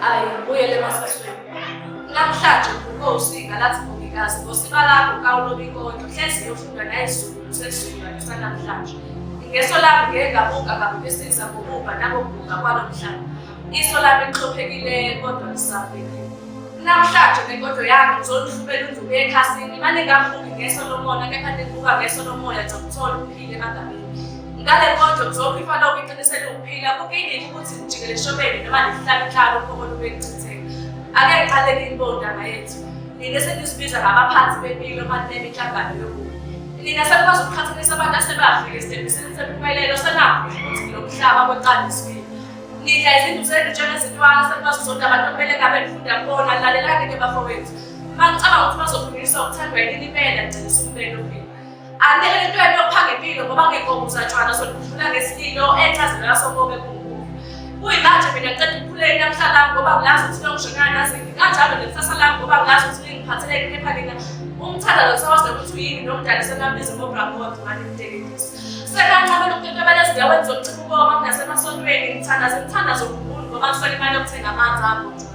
Ayi, buyele emasisweni. Namhlanje uvuke usinga lathi mongikazi ngosika lakho kawulobi kodwa hlezi yofunda nayizulu lusezulu lalisa namhlanje. Ngeso lami ngeke ngabonga kabi besiza ngokubha nangokuguga kwalo mhlaba. Iso lami lixhophekile kodwa lisabhekile. Namhlanje ngenkodo yami ngizolihluphela unduku ekhasini, mane ngabuki ngeso lomona kepha nibuka ngeso lomoya nizokuthola. ngale nkonzo zonke ifana okuqinisele ukuphila kukingile ukuthi ngijikele eshobeni noma ndihlale mhlalo uphokolo bekuchitheka ake ngiqale ngiyibondaba yethu nina senizibiza ngabaphansi bempilo manine inhlangano yokubi nina senikwazi ukuqhathanisa abantu asebafike esitembisini sempumelelo senakho ukuthi ngilo mhlaba kweqandiswini nidla izinto zenu njengezintwana senikwazi zonke abantu okumele ngabe nifunda kubona lalelani ke bafowethu uma ngicabanga ukuthi bazokhulunyiswa ukuthandwa yini impela ngcela usukumele ophila Angeke lento yento pha ngempilo ngoba ngegobuza tshwana sokudlula ngesililo enchazela sokobe kunkulu. Kuyimanje mina ngicela ukukhuleka namhla lami ngoba ngilazi ukuthi longishonana nazini kanjalo nekusasa lami ngoba ngilazi ukuthi lingiphathele kepha nina umthanda lo sawazi ukuthi uyini nomdala semabizo ngobrakot manje mteketisi. Sekanqabela ukukekelela ezindaweni zokuchipha ukoma kunasemasontweni ngithandaze ngithandaze uNkulunkulu ngoba ngiswele imali yokuthenga amanzi abo.